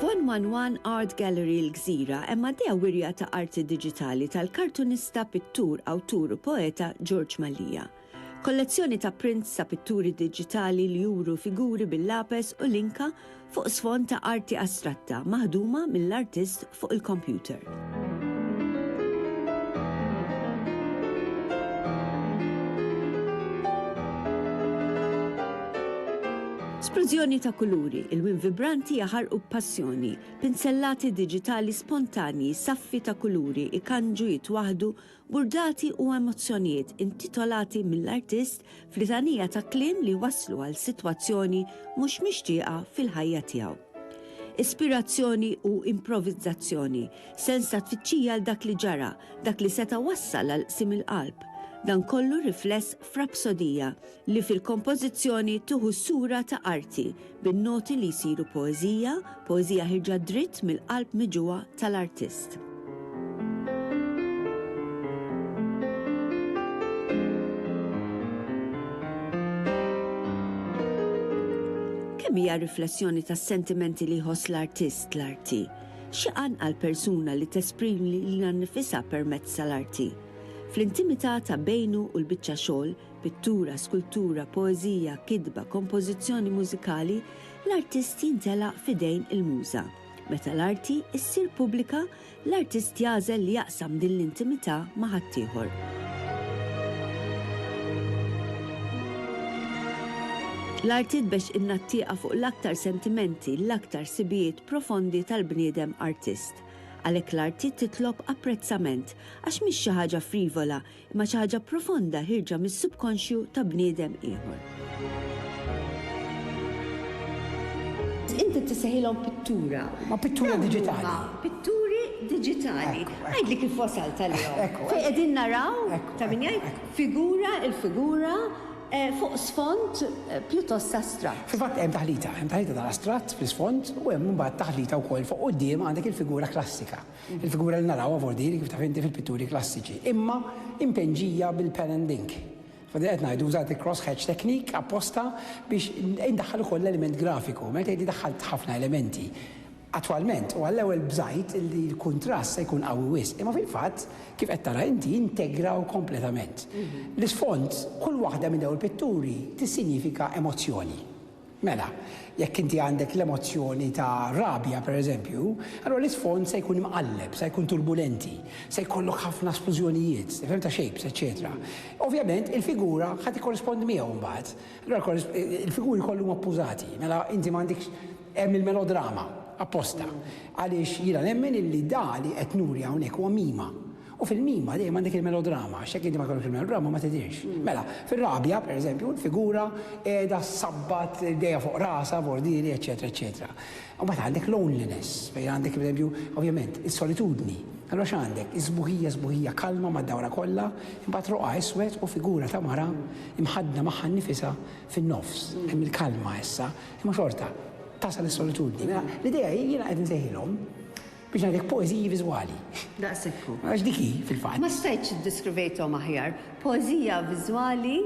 F'One-One-One Art Gallery l-Gżira hemm għaddejja wirja ta' arti diġitali tal-kartunista, pittur, awtur u poeta George Mallia. Kollezzjoni ta' prints ta' pitturi diġitali li juru figuri bil-lapes u l-inka fuq sfond ta' arti astratta maħduma mill-artist fuq il-kompjuter. Splużjoni ta' kuluri, il-win vibranti jaħarqu b'passjoni, pinsellati diġitali spontanji, saffi ta' kuluri ikanġu jitwaħdu burdati u emozzjonijiet intitolati mill-artist f'litanija ta' kliem li jwasslu għal sitwazzjoni mhux mixtieqa fil-ħajja tiegħu. Ispirazzjoni u improvizzazzjoni, sens ta' tfittxija għal dak li ġara, dak li seta' wassal għal qsim il-qalb, dan kollu rifless f'rapsodija li fil-kompożizzjoni tieħu s-sura ta' arti, bin-noti li jsiru poeżija, poeżija ħirġa dritt mill-qalb miġugħa tal-artist. Kemm hija riflessjoni tas-sentimenti li jħoss l-artist l-arti? Xi qanqal persuna li tesprimi lilha nnifisha permezz tal-arti? Fl-intimità ta' bejnu u l-biċċa xogħol, Pittura, skultura, poeżija, kitba, kompożizzjoni mużikali, l-artist jintelaq f'idejn il-Muża. Meta l-arti ssir pubblika, l-artist jagħżel li jaqsam din l-intimità ma' ħaddieħor. L-arti tbex in-nattieqa fuq l-aktar sentimenti, l-aktar sibijiet profondi tal-bniedem artist. Għalhekk l-arti titlob apprezzament, għax mhix xi ħaġa frivola Imma xi ħaġa profonda ħirġa mis-subkonxju ta' bniedem ieħor. Inti tissejħilhom pittura. Ma pittura diġitali. Pitturi diġitali. Għidli kif wasal tal-jom. Fej qegħdin naraw ta' min jgħid figura il-figura Eh, fuq sfond eh, pjuttost astratt. Fil-fatt hemm taħlita, hemm taħlita tal-astratt fl-isfond u hemm mbagħad taħlita wkoll fuq quddiem għandek il-figura klassika. Il-figura li narawha fuq din, kif taf inti, fil-pitturi klassiċi, imma impenġija bil-pen and ink. Fadil qed ngħidu użat il-crosshatch technique apposta biex indaħħal ukoll l-element grafiku. Meta tgħidli daħħalt ħafna elementi, attwalment u għall-ewwel bżajt li l-kuntrast se jkun qawwi wisq, imma fil-fatt, kif qed tara inti, integraw kompletament. L-isfond, kull waħda minn dawn il-pitturi tissinjifika emozzjoni. Mela, jekk inti għandek l-emozzjoni ta' rabja, pereżempju, allura l-isfond se jkun imqalleb, se jkun turbulenti, se jkollok ħafna splużjonijiet, tifhem, ta' shapes, eċċetera. Ovvjament, il-figura ħa tikkorrispondi miegħu mbagħad. Allura il-figuri kollha huma ppużati. Mela, inti m'għandekx hemm il-melodrama, apposta, għaliex jiena nemmen illi da li qed nuri hawnhekk huwa mima. U fil-mima dejjem għandek il-melodrama, għax jekk inti ma jkollokx il-melodrama ma tidhirx. Mela, fir-rabja, pereżempju, l-figura qiegħda ssabbat idejha fuq rasha b'ordiri, eċċetera, eċċetera. Imbagħad għandek loneliness, fejn għandek, pereżempju, ovvjament, is-solitudni. Allura x'għandek? Is-sbuħija, sbuħija kalma mad-dawra kollha, imbagħad roqgħa iswed u figura ta' mara mħaddna magħha nnifisha fin-nofs. Hemm il-kalma issa, imma xorta tasal is-solitudni. Mela, l-idea hi, jiena qed insejħilhom, Biex ngħidlek poeżiji viżwali. Daqshekk hu. Għax dik hi, fil-fatt. Ma stajtx iddiskrivejthom aħjar. Poeżija viżwali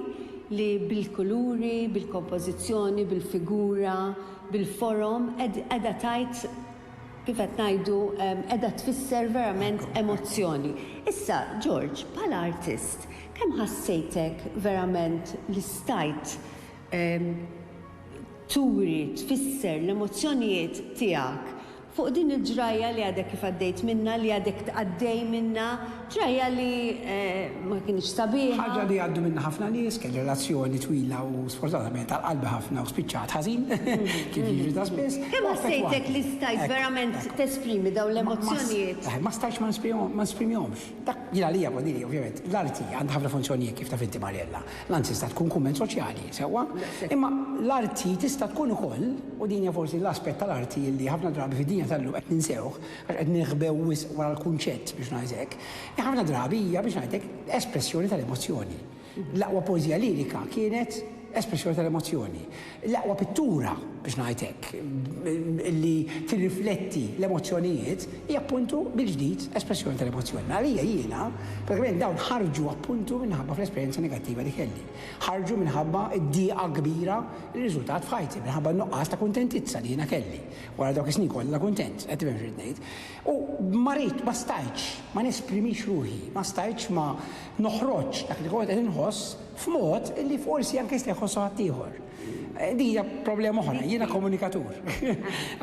li bil-kuluri, bil-kompożizzjoni, bil-figura, bil-forom qiegħda tgħid, kif qed ngħidu, qiegħda tfisser verament emozzjoni. Issa, George, bħala artist, kemm ħassejtek verament li stajt turi, tfisser l-emozzjonijiet tiegħek? Fuq din il-ġrajja li għadek kif għaddejt minnha, li għadek tgħaddej minnha, ġrajja li ma kinitx sabiħa. Ħaġa li għaddu minnha ħafna nies, kelli relazzjoni twila u sfortunatament għal qalbi ħafna u spiċċat ħażin, kif jiġri ta' spiss. Kemm ħassejtek li stajt verament tesprimi dawn l-emozzjonijiet? Ma stajtx ma nesprimihomx. Dak jien għalija, ovvjament, l-arti għandha ħafna funzjonijiet kif taf inti Mariella. L-għan tista' tkun kumment soċjali, sewwa, imma l-arti tista' tkun ukoll, u din hija forsi l-aspett tal-arti li ħafna drabi fid-dinja tal-lum qed ninsewh għax qed niħbew wisq wara l-kunċett biex ngħid hekk, hi ħafna drabi hija biex ngħidlek espressjoni tal-emozzjoni. L-aqwa poeżija lirika kienet espressjoni tal-emozzjoni. L-aqwa pittura, biex ngħid hekk, li tirrifletti l-emozzjonijiet hi appuntu mill-ġdid espressjoni tal-emozzjoni. Għalija jiena, pratikament dawn ħarġu appuntu minħabba fl-esperjenza negattiva li kelli. Ħarġu minħabba d-dieqa kbira li rriżultat f'ħajti, minħabba n-nuqqas ta' kuntentizza li jiena kelli. Wara dawk is-snin kollha kuntent, qed tifhem x'irrid ngħid. U ma rid, ma stajtx ma nesprimix ruħi, ma stajtx ma noħroġx dak li kont qed inħoss. F'mod li forsi anke jista' jħossu ħaddieħor. Din hija problema oħra, jiena komunikatur.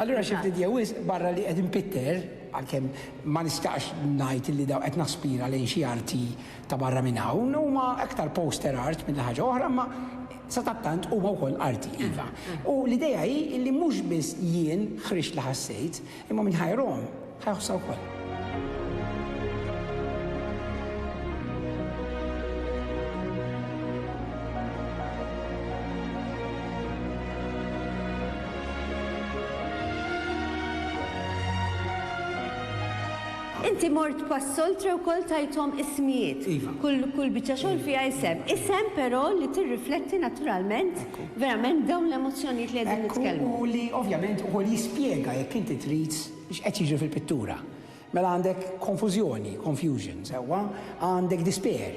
Allura xi ftit jew wisq barra li qed inpitter, għalkemm ma nistaqx ngħid li daw qed naspira lejn xi arti ta' barra minn hawn, huma aktar poster art milli ħaġa oħra imma sadattant huma wkoll arti, iva. U l-idea hi li mhux biss jien ħriġt li ħassejt, Imma min ħajrhom, ħajħossha wkoll. Inti mort pas-soltre wkoll tajthom ismijiet. Iva. Kull kull biċċa xogħol fiha isem. Isem però li tirrifletti naturalment Verament dawn l-emozzjonijiet li qegħdin nitkellmu. Ekku li ovvjament ukoll jispjega jekk inti trid x'qed jiġri fil-pittura. Mela għandek konfużjoni, confusion, sewwa, għandek dispear,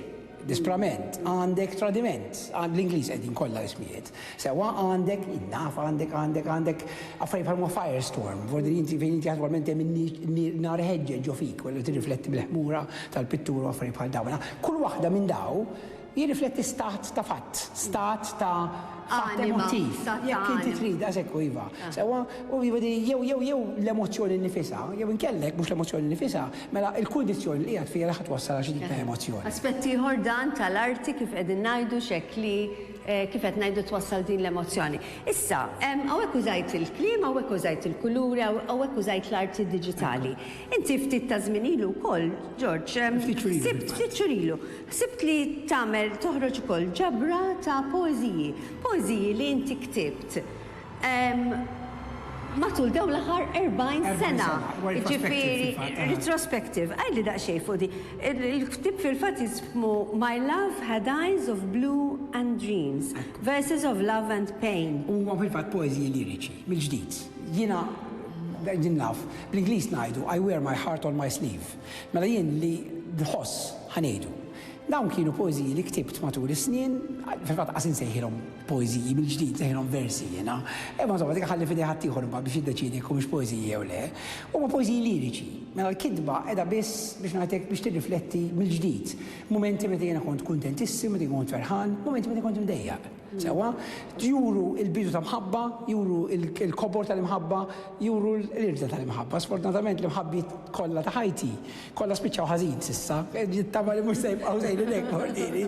disprament, għandek tradiment, bl-Ingliż qegħdin kollha ismijiet, sewwa, għandek, jien naf, għandek, għandek, għandek affarijiet bħal huma firestorm, f'ordni inti fejn inti attwalment hemm in-nar ħeġġeġ ġo fik, wara li tirrifletti bil-ħmura tal-pittura u affarijiet bħal dawn. Mela kull waħda minn dawn Jirrifletti stat ta' fatt, stat ta' fatt emottiv. Anima, stat ta' anima. Jekk inti trid, as ekku, iva. Sewwa, u iva di jew jew jew l-emozzjoni nnifisha, jew inkella jekk mhux l-emozzjoni nnifisha, mela l-kundizzjoni li qiegħed fiha li ħa twassal għal xi tip ta' emozzjoni. Aspett ieħor dan tal-arti kif qegħdin ngħidu x'hekk li kif qed ngħidu twassal din l-emozzjoni. Issa, hawnhekk użajt il-kliem, hawnhekk użajt il-kuluri, hawnhekk użajt l-arti diġitali. Inti ftit ta' żmien ilu wkoll, Ġorġ, sibt, ftit xhur ilu, Ħsibt li tagħmel, toħroġ ukoll ġabra ta' poeżiji, poeżiji li inti ktibt matul dawn l-aħħar 40 sena. 40 sena, huwa retrospective fil-fatt. Jiġifieri, retrospective. Għidli daqsxejn fuq din. Il-ktieb fil-fatt jismu My Love Had Eyes of Blue and Dreams, Verses of Love and Pain. Huma fil-fatt poeżiji liriċi, mill-ġdid. Jiena, din naf, bl-Ingliż ngħidu, I wear my heart on my sleeve. Mela jien li nħoss, ħa ngħidu. Dawn kienu poeżiji li ktibt matul is-snien, fil-fatt qas insejħilhom poeżiji, mill-ġdid nsejħilhom versi jiena, imma insomma dik inħalli f'idej ħaddieħor imbagħad biex jiddeċiedi jekk humiex poeżiji jew le. Huma poeżiji liriċi. Mela l-kitba qiegħda biss, biex ngħid hekk, biex tirrifletti mill-ġdid mumenti meta jiena kont kuntentissima, meta jien kont ferħan, mumenti meta kont imdejjaq. Sewwa, juru l-bidu ta' mħabba, juru l-kobor tal-imħabba, juru l-irda tal-imħabba. Sfortunatament l-imħabbijiet kollha ta' ħajti, kollha spiċċaw ħażin s'issa, nittama li mhux se jibqgħu sejrin hekk Mordini.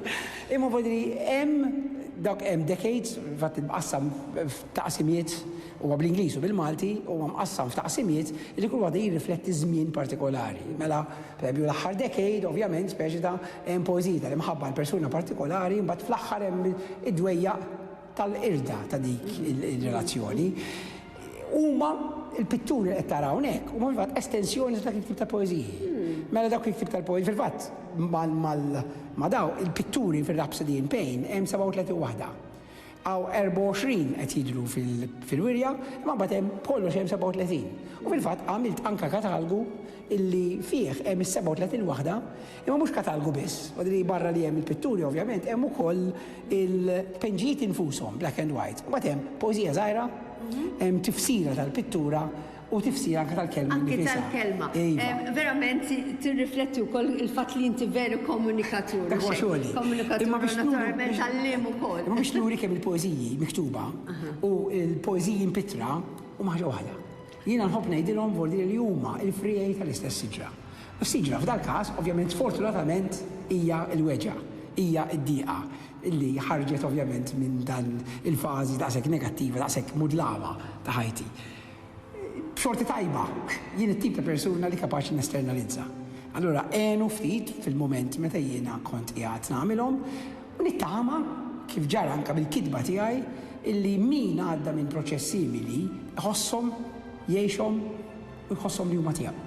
Imma Mordini hemm dawk hemm decades, fatt imqassam f'taqsimiet, huwa bl-Ingliż u bil-Malti, huwa mqassam f'taqsimiet li kull waħda jirrifletti żmien partikolari. Mela, pereżempju l-aħħar decade, ovvjament, speċi ta' Hemm poeżiji tal-imħabba għal persuna partikolari, imbagħad fl-aħħar hemm id-dwejjaq tal-qirda ta' dik ir-relazzjoni. Huma l-pitturi li qed tara hawnhekk huma fil-fatt estensjoni ta' dak il-tip ta' poeżiji. Mela dawk il-tip tal-poeżiji fil-fatt ma' daw il-pitturi fir-Rhapsody in Pain hemm 37 waħda. Hawn 24 qed jidhru fil-wirja, imma mbagħad hemm b'kollox hemm 37. U fil-fatt għamilt anke katalgu illi fih hemm is-37 waħda, imma mhux katalgu biss, li barra li hemm il-pitturi ovvjament hemm ukoll il-tpenġijiet infushom, black and white. Mbagħad hemm poeżija żgħira, hemm tifsira tal-pittura U tifsira anke tal-kelma innifisha. Anke tal-kelma. Iva. Verament tirrifletti wkoll il-fatt li inti veru komunikatur. Dak huwa xogħli. Komunikatur u naturalment għalliem ukoll. Imma biex nuri kemm il-poeżiji miktuba u l-poeżiji mpittra huma ħaġa waħda. Jiena nħobb ngħidilhom vuol dire li huma l-friegħi tal-istess siġra. U s-siġra f'dal-każ, ovvjament sfortunatament, hija l-weġgħa, hija d-dieqa li ħarġet ovvjament minn dan il-fażi daqshekk negattiva, daqshekk mudlama ta' ħajti. b'xorti tajba, jien it-tip ta' persuna li kapaċi nesternalizza. Allura għenu ftit fil-mument meta jiena kont qiegħed nagħmilhom u nittama, kif ġara anke bil-kitba tiegħi, illi min għadda minn proċess simili jħosshom, jgħixhom u jħosshom li huma tiegħu.